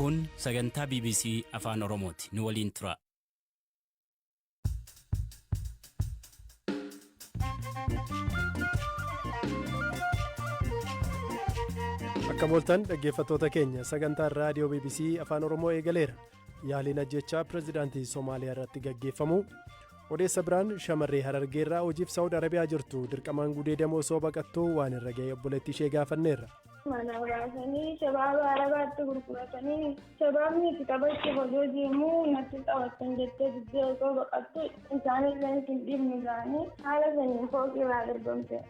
Kun sagantaa BBC Afaan Oromooti. Nu waliin turaa. Akka mooltan dhaggeeffattoota keenya sagantaan raadiyoo BBC Afaan Oromoo eegaleera. Yaaliin ajjechaa pirezidaantii Somaaliyaa irratti gaggeeffamu. Odeessa biraan shamarree Harargee irraa hojiif Saawud Arabiyaa jirtu dirqamaan gudeedamu osoo baqattuu waan irra ga'e obboleettii ishee gaafanneerra. Mana baasanii shabaaba arabaatti gurguratanii shabaabni itti taphachuuf odoo deemuu natti taphattan jettee diddee osoo baqattu isaanillee isin dhiibnu ga'anii haala saniin fooqii irraa darbamte.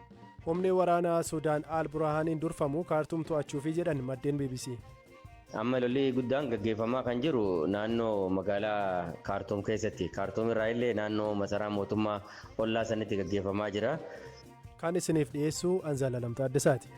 Humni waraanaa Sudaan Al Burhaaniin durfamu kaartuum to'achuufi jedhan maddeen BBC. Amma lolli guddaan gaggeeffamaa kan jiru naannoo magaalaa Kaartuum keessatti. Kaartuum irraa illee naannoo masaraa mootummaa ollaa sanitti gaggeeffamaa jira. Kan isiniif dhiyeessu an Zalaalam Taaddasaati.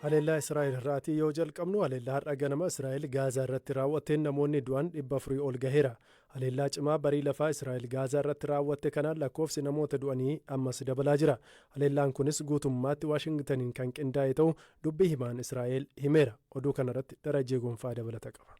Haleellaa Israa'el irraatii yoo jalqabnu haleellaa har'a ganama Israa'el Gaazaa irratti raawwatteen namoonni du'an dhibba afurii ol gaheera. Haleellaa cimaa barii lafaa Israa'el Gaazaa irratti raawwatte kanaan lakkoofsi namoota du'anii ammas dabalaa jira. Haleellaan kunis guutummaatti Waashingtaniin kan qindaa'e ta'uu dubbi himaan Israa'el himeera. Oduu kanarratti Darajjee Gonfaa dabalata qaba.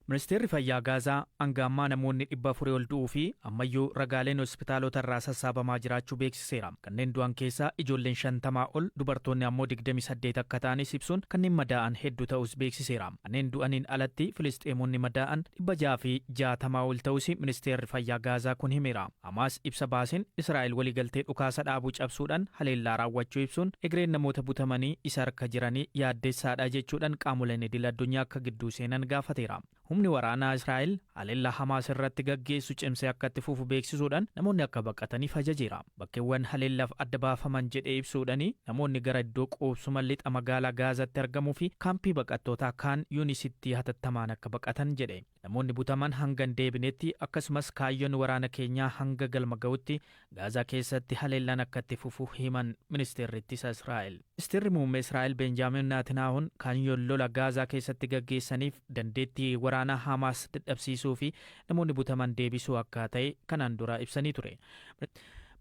Ministeerri Fayyaa Gaazaa hanga ammaa namoonni 400 ol du'uu fi ammayyuu ragaaleen hospitaalota irraa sassaabamaa jiraachuu beeksiseera. beeksiseera. Kanneen du'an keessaa ijoolleen 50 ol, dubartoonni ammoo 28 akka ta'anis ibsuun, kanneen madaa'an heddu ta'uus beeksiseera. Kanneen du'aniin alatti Filisxeemoonni madaa'an 660 ol ta'uusi ministeerri fayyaa Gaazaa kun himeera. Hamaas ibsa baaseen, Israa'el waliigaltee dhukaasa dhaabuu cabsuudhaan haleellaa raawwachuu ibsuun, egereen namoota butamanii isa harka jiranii yaaddeessaadha jechuudhaan qaamoleen idil-addunyaa akka gidduu seenan gaafateera. Humni waraanaa Israa'el haleellaa Hamaas irratti gaggeessu cimsee akka itti fufu beeksisuudhaan namoonni akka baqataniif ajajeera. Bakkeewwan haleellaaf adda baafaman jedhee ibsuudhani namoonni gara iddoo quubsuma lixa magaalaa Gaazatti argamuu fi kaampii baqattootaa Kaan Yuunisitti hatattamaan akka baqatan jedhe. Namoonni butaman hanga hin deebinetti akkasumas kaayyoon waraana keenyaa hanga galma ga'utti Gaazaa keessatti haleellaan akka itti fufu himan Ministeerri Ittisa Israa'el. Ministeerri Muummee Israa'el Beenjaamiin Naatinaahuun kaayyoon lola Gaazaa keessatti gaggeessaniif dandeettii waraanaa Hamaas dadhabsiisuu fi namoonni butaman deebisuu akka ta'e kanaan dura ibsanii ture.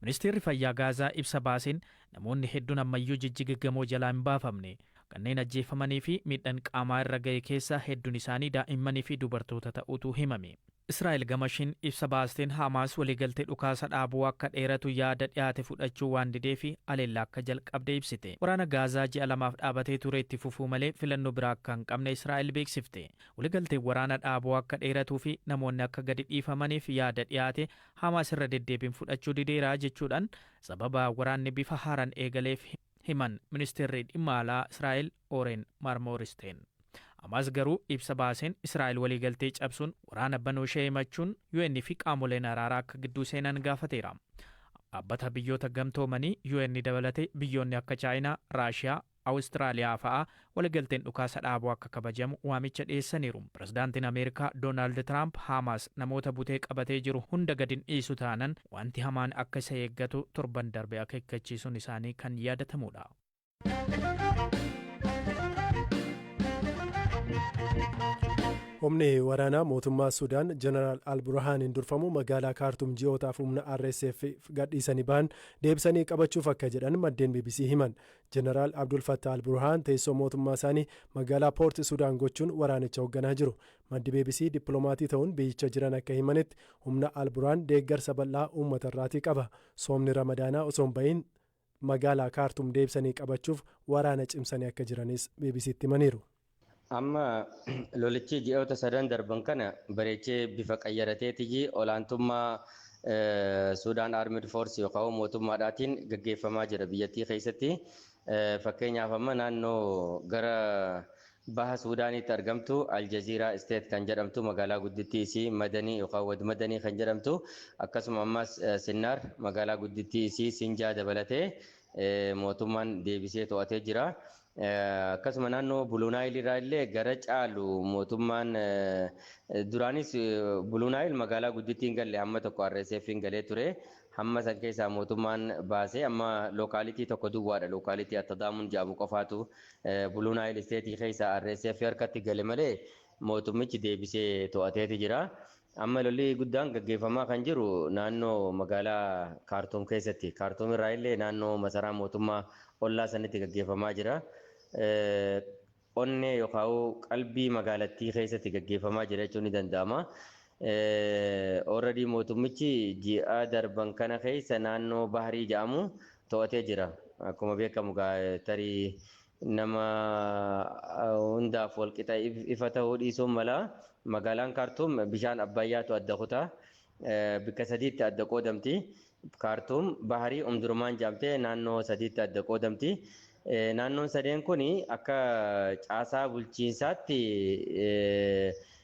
Ministeerri Fayyaa Gaazaa ibsa baaseen, namoonni hedduun ammayyuu jijjigiggamoo jalaa hin baafamne. Kanneen ajjeefamanii fi miidhan qaamaa irra gahe keessaa hedduun isaanii daa'immanii fi dubartoota ta'uutu himame. Israa'el gama ishiin ibsa baasteen Haamaas waliigaltee dhukaasa dhaabuu akka dheeratu yaada dhiyaate fudhachuu waan dideef haleellaa akka jalqabde ibsite. Waraana Gaazaa ji'a lamaaf dhaabatee ture itti fufuu malee filannoo biraa akka hin qabne Israa'el beeksifte. Waligalteen waraana dhaabuu akka dheeratuu fi namoonni akka gadi dhiifamaniif yaada dhiyaate Haamaas irra deddeebiin fudhachuu dideera jechuudhaan sababa waraanni bifa haaraan eegaleef himte. himan Ministeerri Dhimma Alaa Israa'el Ooreen Maarmooristeen. Amaas garuu ibsa baaseen Israa'el waliigaltee cabsuun waraana banuushee himachuun UN fi qaamoleen araaraa akka gidduu seenan gaafateera. Dhaabbata Biyyoota Gamtoomanii, UN dabalatee biyyoonni akka Chaayinaa, Raashiyaa, Awustiraaliyaa fa'aa Waligalteen dhukaasa dhaabuu akka kabajamu waamicha dhiyeessaniiru. Pirezidaantiin Ameerikaa Doonaald Tiraamp Haamaas namoota butee qabatee jiru hunda gad hin dhiisu taanan wanti hamaan akka isa eeggatu torban darbe akeekkachiisuun isaanii kan yaadatamuudha. Humni waraanaa mootummaa Sudaan Jeneraal Alburhaaniin durfamu magaalaa Kaartum ji'ootaaf humna RSF gadhiisanii bahan deebisanii qabachuuf akka jedhan maddeen BBC himan. Jeneraal Abdul Fattah al-Burhaan teessoo mootummaa isaanii magaalaa Poort Sudaan gochuun waraanicha hogganaa jiru. Maddi bbc dippilomaatii ta'uun biyyicha jiran akka himanitti humna al-Burhaan deeggarsa bal'aa uummata irraatii qaba. Soomni Ramadaanaa osoo hin ba'iin magaalaa Kaartum deebisanii qabachuuf waraana cimsanii akka jiranis BBC'tti himaniiru. Amma lolichi ji'oota sadan darban kana bareechee bifa qayyarateetiyyi olaantummaa Suudaan Armed Force yookaan mootummaadhaatiin gaggeeffamaa jira biyyattii keessatti. Fakkeenyaaf amma naannoo gara baha Suudaaniitti argamtu Aljaziiraa Isteet kan jedhamtu magaalaa guddittii isii Madanii yookaan Wad Madanii kan jedhamtu akkasuma ammas Sinnaar magaalaa guddittii isii Sinjaa dabalatee mootummaan deebisee to'atee jira. Akkasuma naannoo Buluu Naayil irraa illee gara caalu mootummaan duraanis Buluu Naayil magaalaa guddittii hin galle hamma tokko RSF hin galee ture. Hamma san keessaa mootummaan baasee amma lookaalitii tokko duwwaadha. Lookaalitii Attadaamuun jedhamu qofaatu Buluu Naayil isteetii keessaa RSF harkatti gale malee mootummichi deebisee to'ateeti jira. Amma lolli guddaan gaggeeffamaa kan jiru naannoo magaalaa Kaartuum keessatti. Kaartuum irraa illee naannoo masaraa mootummaa ollaa sanitti gaggeeffamaa jira. Onnee yookaan qalbii magaalattii keessatti gaggeeffamaa jira jechuun ni danda'ama. Already mootummichi ji'a darban kana keessa naannoo Bahrii jedhamu to'atee jira. Akkuma beekamu tarii nama hundaaf walqixa ifa ta'uu dhiisuun mala. Magaalaan Kaartuum bishaan Abbayyaatu adda kuta. Bikka sadiitti adda qoodamti. Kaartuum Baharii Umdurmaan jedhamtee naannoo sadiitti adda qoodamti. Naannoon sadeen kun akka caasaa bulchiinsaatti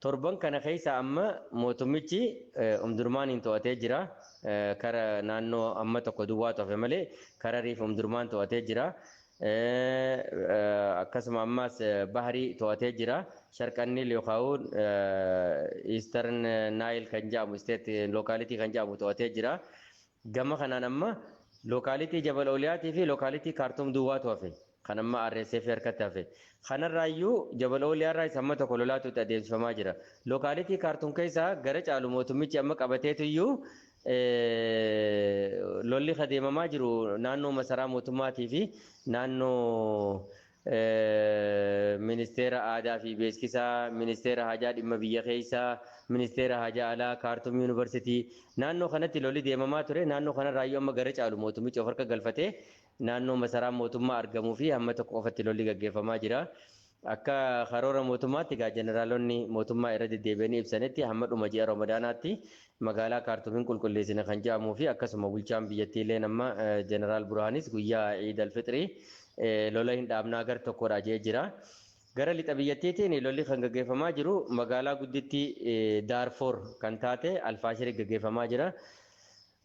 Torban kana keessa amma mootummichi Omdurmaaniin to'atee jira. Kara naannoo amma tokko duwwaatu hafe malee Hararii fi Omdurmaan to'atee jira. Akkasuma ammaas Bahrii to'atee jira. Sharqan Niil yookaan Eastern Nile kan jedhamu isteet lookaalitii kan jedhamu to'atee jira. Gama kanaan amma lookaalitii Jabal Oliyaatii fi lookaalitii Kaartuum duwwaatu hafe. kan amma RSF harkatti hafe. Kanarraayyuu Jabal Ooliyaarraa isa amma tokko lolaatuutti adeemsifamaa jira. Lookaalitii Kaartuum keessaa gara caalu mootummichi amma qabateetuyyuu lolli adeemamaa jiru naannoo masaraa mootummaatii fi naannoo ministeera aadaa fi beeksisaa, ministeera hajaa dhimma biyya keessaa, ministeera hajaa alaa, kaartuum yuunivarsiitii naannoo kanatti lolli deemamaa ture naannoo kanarraayyuu amma gara caalu mootummichi of harka galfatee naannoo masaraa mootummaa argamuu fi hamma tokko qofatti lolli gaggeeffamaa jira. Akka karoora mootummaatti egaa jeneraalonni mootummaa irra deddeebi'anii ibsanitti hamma dhuma ji'a Ramadaanaatti magaalaa Kaartuum hin qulqulleessina kan jedhamuu fi akkasuma bulchaan biyyattii illee amma jeneraal Burhaanis guyyaa Iid Alfixrii lola hin dhaabnaa gar tokkodha jedhee jira. Gara lixa biyyattiitiin lolli kan gaggeeffamaa jiru magaalaa guddittii Daarfoor kan taate Alfaashirii gaggeeffamaa jira.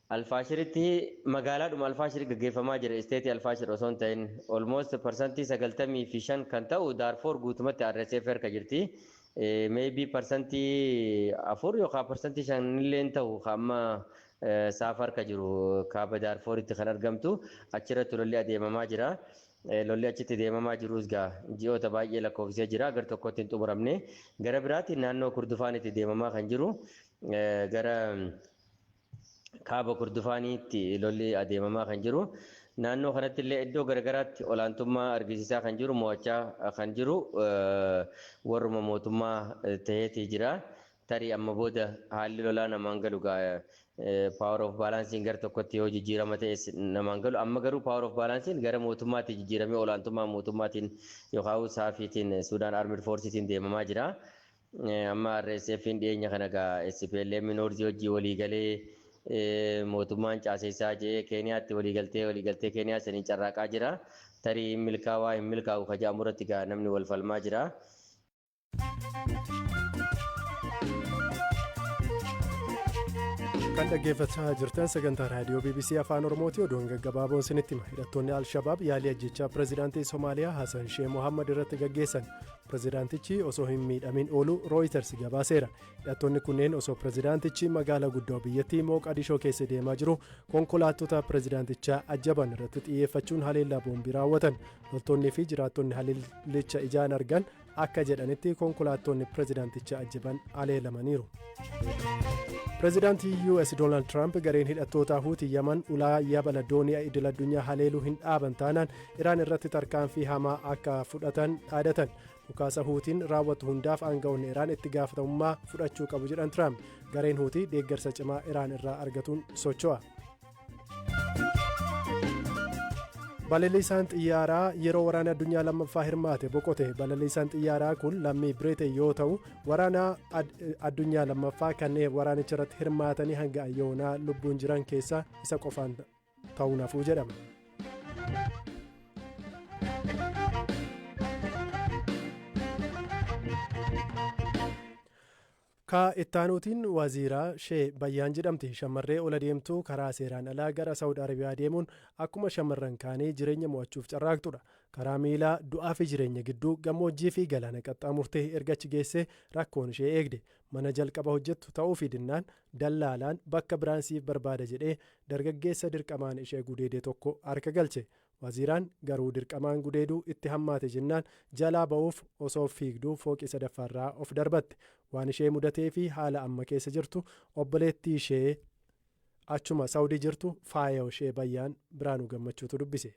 Alfaashiritti magaalaadhuma Alfaashir gaggeeffamaa jira isteetii Alfaashir osoo hin ta'in almost parsantii 95 kan ta'u Daarfoor guutumatti RSF harka jirti maybe parsantii 4 yookaan parsantii 5 illee hin ta'u kan amma saaf harka jiru kaaba Daarfooritti kan argamtu achirratti lolli adeemamaa jira. Lolli achitti deemamaa jirus gaa ji'oota baay'ee lakkoofsisee jira gar tokkotti hin xumuramne gara biraatiin naannoo kurdufaanitti deemamaa kan jiru gara Kaaba Kordofaaniitti lolli adeemamaa kan jiru. Naannoo kanatti illee iddoo garagaraatti olaantummaa argisiisaa kan jiru mo'achaa kan jiru warruma mootummaa ta'eetii jira. Tarii amma booda haalli lolaa namaan galu gaa power of balansiin gara tokkotti yoo jijjiirama ta'es namaan galu. Amma garuu power of balansiin gara mootummaatiin jijjiiramee olaantummaa mootummaatiin yookaan saafiitiin Suudaan Armed Forceetiin deemamaa jira. Amma RSFn dhiyeenya kana egaa SPLM Noorzii wajjin walii galee mootummaan caaseessaa jedhee Keeniyaatti walii galtee walii galtee Keeniyaa saniin carraaqaa jira. Tarii hin milkaawaa hin milkaa'u ka jedhamu irratti egaa namni wal falmaa jira. kan dhaggeeffachaa jirtan sagantaa raadiyoo bbc afaan oromooti oduun gaggabaaboon sinitti hima hidhattoonni alshabaab yaalii ajjechaa pirezidaantii somaaliyaa hasan shee mohammad irratti gaggeessan Pirezidaantichi osoo hin miidhamin oolu Rooyiters gabaaseera. Hidhattoonni kunneen osoo pirezidaantichi magaala guddoo biyyattii Mooqadishoo keessa deemaa jiru konkolaattota pirezidaantichaa ajjaban irratti xiyyeeffachuun haleellaa boombii raawwatan. Loltoonnii fi jiraattonni haleellicha ijaan argan akka jedhanitti konkolaattonni pirezidaanticha ajjaban haleelamaniiru. Pirezidaantii US Doonaald Tiraamp gareen hidhattootaa Huutii Yaman ulaa yabala doonii idil addunyaa haleeluu hin dhaaban taanaan Iraan irratti tarkaanfii hamaa akka fudhatan dhaadatan. Dhukaasa Huutiin raawwatu hundaaf aanga'oonni Iraan itti gaafatamummaa fudhachuu qabu jedhan Tiraamp. Gareen Huutii deeggarsa cimaa Iraan irraa argatuun socho'a. Balaliisaan xiyyaaraa yeroo waraana addunyaa lammaffaa hirmaate boqote. Balaliisaan xiyyaaraa kun lammii Biriteen yoo ta'u, waraana addunyaa lammaffaa kanneen waraanicha irratti hirmaatanii hanga ayyoonaa lubbuun jiran keessaa isa qofaan ta'uun hafuu jedhama. Ka ittaanuutiin waziiraa shee bayyaan jedhamti shammarree ol adeemtuu karaa seeraan alaa gara Saawud Arabiyaa deemuun akkuma shammarran kaanii jireenya mo'achuuf carraaqxudha. Karaa miilaa du'aa fi jireenya gidduu gammoojjii fi galaana qaxxaamurtee erga achi geessee rakkoon ishee eegde. Mana jalqaba hojjettu ta'uufii dinnaan dallaalaan bakka biraan siif barbaada jedhee dargaggeessa dirqamaan ishee gudeede tokko harka galche. Waziiraan garuu dirqamaan gudeeduu itti hammaate jennaan jalaa ba'uuf osoo fiigduu fooqii sadaffaarraa of darbatte. Waan ishee mudateefi haala amma keessa jirtu obboleettiishee achuma Sawudii jirtu Faayaoshee Bayyaan Biraanuu Gammachuutu dubbise.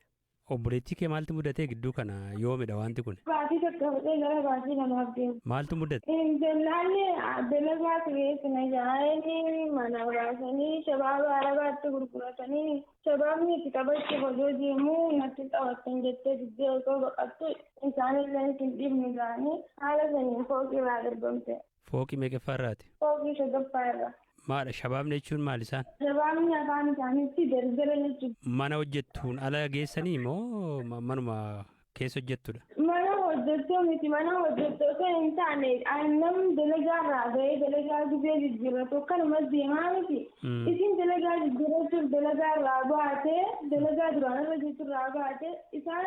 Obboleettii kee maaltu mudate gidduu kana yoomidha waanti kuni? Baatii tokko fudhee gara baatii lamaaf deema. Maaltu mudate? Intalaalli dalagwaa sireessi na jaa'anii mana baasanii shabaaba arabaatti gurguratanii shabaabni itti taphachuuf odoo deemuu natti taphattan jettee diddee osoo baqattu isaanillee isin dhiibnu jedhanii haala saniin fooqii irraa darbamte. Fooqii meeqaffaa irraati? Fooqii shagaffaa irra. Maadha shabaabni jechuun maali isaan? Shabaabni afaan isaaniitti darbdara jechuudha. Mana hojjettuun ala geessanii moo ma- manuma keessa hojjettudha? Mana hojjettuu miti mana hojjettuu osoo hin taane an- namni dalagaa irraa bahee dalagaa gizee jijjiirratu akkanuma deemaa miti. Mm. Isin dalagaa jijjiirrachuuf dalagaa irraa baate dalagaa duraan irra jirtu irraa baate isaan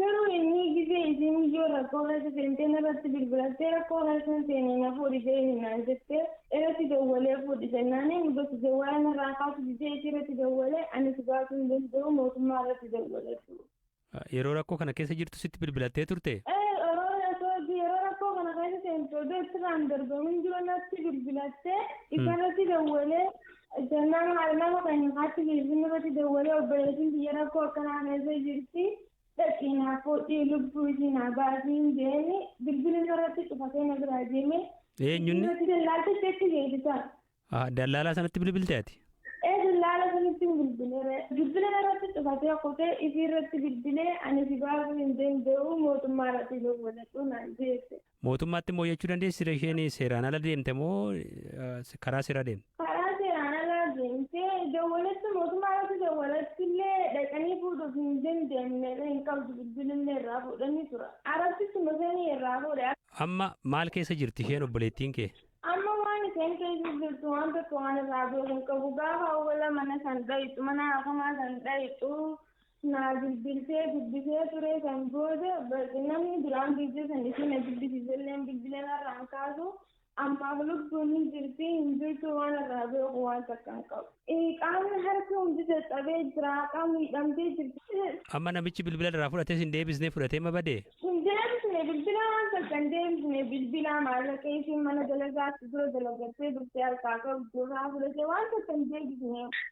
Garuu innii gizee isiin miyyoo rakkoo keessa seentee narratti bilbilattee rakkoo keessa hin seenee na fuudhi jeeni naan jettee irratti dawwalee fuudhi jennaanii muga si jawwaala narraa kaasu didee isii irratti dawwalee ani si baasuu hin danda'u mootummaa irratti dawwalatu. Yeroo rakkoo kana keessa jirtu sitti bilbilattee turte? Ee yeroo rakkoo yeroo rakkoo kana keessa seentu odoo itti irraan darbamu hin jiru natti bilbilattee isarratti dawwalee Jennaan haadha nama keenya kaatti bilbila irratti dawwalee obboleettiin biyya rakkoo akkanaa keessa jirti dhaqii naa fuudhii lubbuu ishii naa baasiin jeeni bilbila irratti cufatee na biraa deeme. Eenyunni? Irratti dallaaltichi achi geessisa. Ah, Dallaalaa sanatti bilbilte ati? Ee dallaala sanitti hin bilbilee bilbila irratti cufatee kutee isii irratti bilbilee ani si baasuu hin danda'u mootummaa irratti dawwaladhu naan jeesse. Mootummaatti immoo iyyachuu dandeessi ree isheen seeraan ala deemte moo eh, karaa seeraa deemte? karaa seeraan alaa deemte dawwalatti mootummaa irratti dawwalatti illee dhaqanii fuudhuuf hin dandeenye hin qabdu bilbilillee irraa fuudhanii tura arabsichi masanii irraa fuudhe Amma maal keessa jirti isheen obboleettiin kee? amma waan isheen keessa jirtu waan tokko waan irraa beeku hin qabu gaafa awwala mana san dhayitu mana hafamaa san dhayitu Naa bilbiltee dubbisee ture san booda namni duraan viidiyoo san ishii na dubbisiise illee bilbila narraa hin kaasu ammaaf lubbuun hin jirti hin jirtu waan irraa beeku waan takka hin qabu. Qaamni harki hundi caccabee jira qaamni hidhamtee jirti. Amma namichi bilbila irraa fudhates hin deebisne fudhatee ma bade? Hin deebisne bilbila waan takka hin deebisne bilbila maallaqa ishiin mana dalagaatti dura dalagattee dhuftee harkaa qabdu irraa fudhatee waan takka hin deebisne.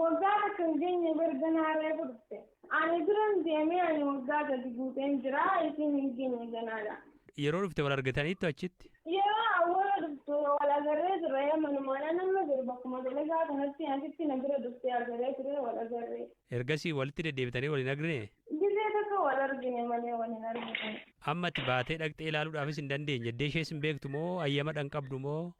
Waggaa takka hin geenye bar ganaa reefu dhufte. Ani duran deemee ani waggaa sadi guuteen jira isiin hin geenye ganaadha. Yeroo dhufte wal argitaniittu achitti? Yeroo awwala dhuftu wal agarree ture manumaan an amma jiru bakkuma dalagaa kanatti asitti na bira dhuftee agaree ture wal agarree. Ergasii walitti deddeebitanii wal hin argnee? Gisee takka wal argine malee wal hin argine. Amma ati baatee dhaqxee ilaaluudhaafis hin dandeenye. Eddee ishees hin beektu moo ayyamadha hin qabdu moo?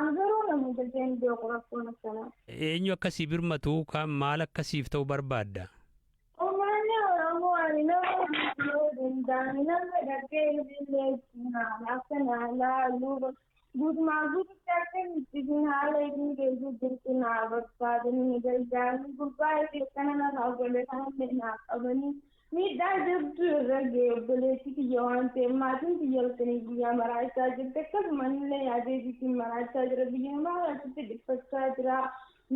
An garuu na hin galeen beeku rakkoon akkanaa. Eenyu akka sii birmatu kaan maal akka siif ta'u barbaadda? Uummanni Oromoo ani nama duutu yoo danda'ame nama dhaqee ilillee ittiin haala akka naa laalu guutumaan guututti akka hin ittiin haala ittiin geessu jirtu naa barbaadanii na gargaaranii gurbaa keessana narraa godhatanii naaf qabanii Miidhaa jabduu irra ga'e obboleettii tiyya waan ta'eef maatiin tiyya halkanii guyyaa maraachaa jirti akkasuma anillee yaadee biitiin maraachaa jira biyya namaa kanatti dhiphachaa jira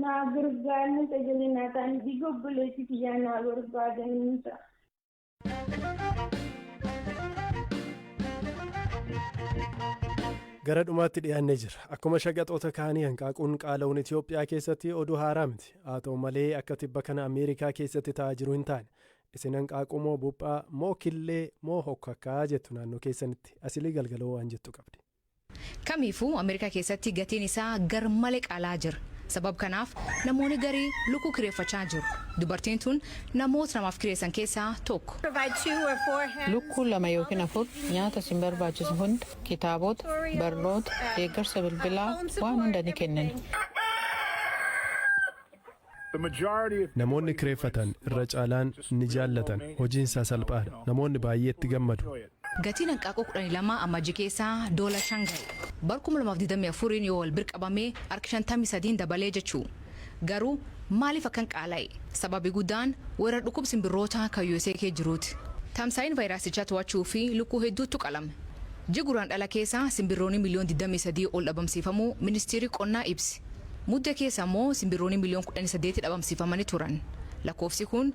naa gargaarni sagalee naa ta'anii dhiiga obboleettii tiyyaa naa barbaadanii jira. Gara dhumaatti dhiyaannee jira. Akkuma shaqaxoota kaanii hanqaaquun qaala'uun Itoophiyaa keessatti oduu haaraa miti. Haa ta'u malee akka tibba kana Ameerikaa keessatti ta'aa jiru hin taane. Isin hanqaaquu moo buphaa, moo killee, moo hokkakkaa jettu naannoo keessanitti. Asilii Galgaloo waan jettu qabdi. Kamiifuu Ameerikaa keessatti gatiin isaa gar male qaala'aa jira. Sabab kanaaf namooni garii lukkuu kireeffachaa jiru. Dubartiin tun namoota namaaf kireessan keessaa tokko. Lukkuu lama yookiin afur nyaata isin barbaachisu hunda kitaabota, barnoota, deeggarsa bilbilaa, waan hunda ni kennina. Namoonni kireeffatan irra caalaan ni jaallatan, hojiin isaa salphaa dha, namoonni baay'ee itti gammadu. Gatiin hanqaaquu 12 Amajji keessa doola 5 gahe. Bar 2024n yoo wal bir qabame hark 53n dabalee jechuu. Garuu maaliif akkan qaala'e? Sababi gudaan weerar dhukub sinbirrootaa kan usa kee jiruuti. Tamsa'in vayiraasichaa to'achuu fi lukkuu hedduuttu qalame. Ji Guraandhala keessa sinbirrooni miliyoon 23 ol dhabamsiifamuu ministiiri qonnaa ibse. Mudde keessa ammoo sinbirrooni miliyoon 18 dhabamsiifamani turan. Lakkoofsi kun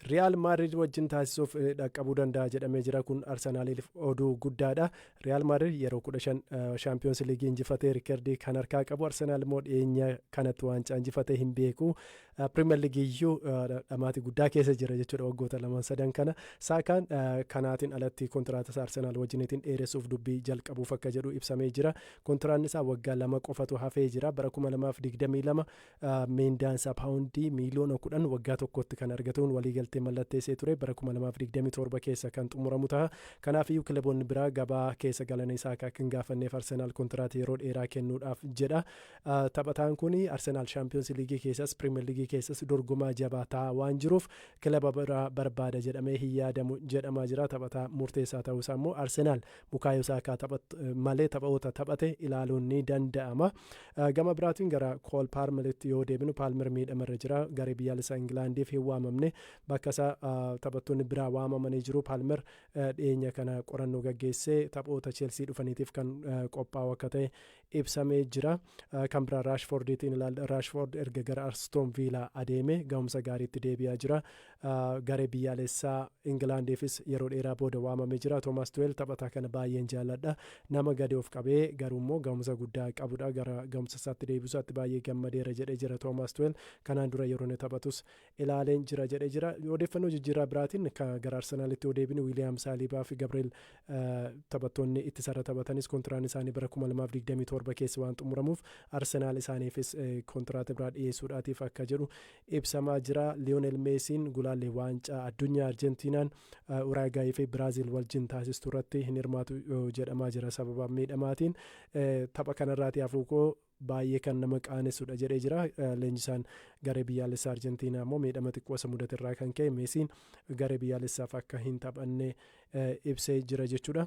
Riyaal Maadrid wajjin taasisuuf dhaqqabuu danda'a jedhamee jira kun Arsenaaliif oduu guddaadha. Riyaal Maadrid yeroo 15 Shaampiyoons Liigii injifatee riikardii kan harkaa qabu Arsenaal immoo dhiyeenya kanatti waancaa injifatee hin beeku. Piriimer Liigii iyyuu dhamaatii guddaa keessa jira jechuudha waggoota lamaan sadan kana. Saakaan kanaatiin alatti kontiraata isaa Arsenaal wajjiniitiin dheeressuuf dubbii jalqabuuf akka jedhu ibsamee jira. Kontiraanni isaa waggaa lama qofatu hafee jira. Bara 2022 Miindaan isaa paawundii miiliyoona kudhan waggaa tokkotti kan argatuun waliigaltee mallatteessee ture bara 2027 keessa kan xumuramu ta'a. Kanaaf iyyuu kilaboonni biraa gabaa keessa galanii isaa akka hin gaafanneef Arsenaal kontiraata yeroo dheeraa kennuudhaaf jedha. Taphataan kun Arsenaal Shaampiyoonsi Liigii keessas Piriimer Liigii keessas dorgomaa jabaa ta'aa waan jiruuf kilaba biraa barbaada jedhamee hin yaadamu jedhamaa jira. Taphataa murteessaa ta'uu isaa immoo Arsenaal Bukaayo Saakaa taphat malee taphaoota taphate ilaaluun ni danda'ama. Gama biraatiin gara Kool Paarmelitti yoo deebinu Paalmer miidhama irra jira. Garee biyyaalessaa Ingilaandiif hin waamamne. Bakka isaa taphattoonni biraa waamamanii jiru. Paalmer dhiyeenya kana qorannoo gaggeessee taphoota Cheelsii dhufaniitiif kan qophaa'u akka ta'e ibsamee jira. Kan biraa Raashfoordiitiin ilaalla. Raashfoord erga gara Arstoon Viilaa adeeme gahumsa gaariitti deebi'aa jira. Garee biyyaalessaa Ingilaandiifis yeroo dheeraa booda waamamee jira. Toomaas Tuweel taphataa kana baay'een jaalladha. Nama gadi of qabee garuu immoo gahumsa guddaa qabudha. Gara gahumsa isaatti deebi'uu isaatti baay'ee gammadeera jedhee jira Toomaas Tuweel. Kanaan dura yeroo inni taphatus ilaaleen jira jedhee jira. Odeeffannoo jijjiirraa biraatiin ka gara Arsenaalitti yoo deebinu Wiiliyaam Saaliibaa fi Gabriel taphattoonni ittisarra taphatanis kontiraan isaanii bara 2027 keessa waan xumuramuuf Arsenaal isaaniifis kontiraata biraa dhiyeessuudhaatiif akka jedhu ibsamaa jira. Liyoonel Meesiin gulaallee waancaa addunyaa Arjentiinaan Uraagaayii fi Biraaziil wajjin taasistu irratti hin hirmaatu jedhamaa jira sababa miidhamaatiin tapha kanarraati hafuukoo baay'ee kan nama qaanesudha jedhee jira. Leenjisaan garee biyyaalessaa Arjentiinaa immoo miidhama xiqqoo isa mudate irraa kan ka'e Meesiin garee biyyaalessaaf akka hin taphanne ibsee jira jechuudha.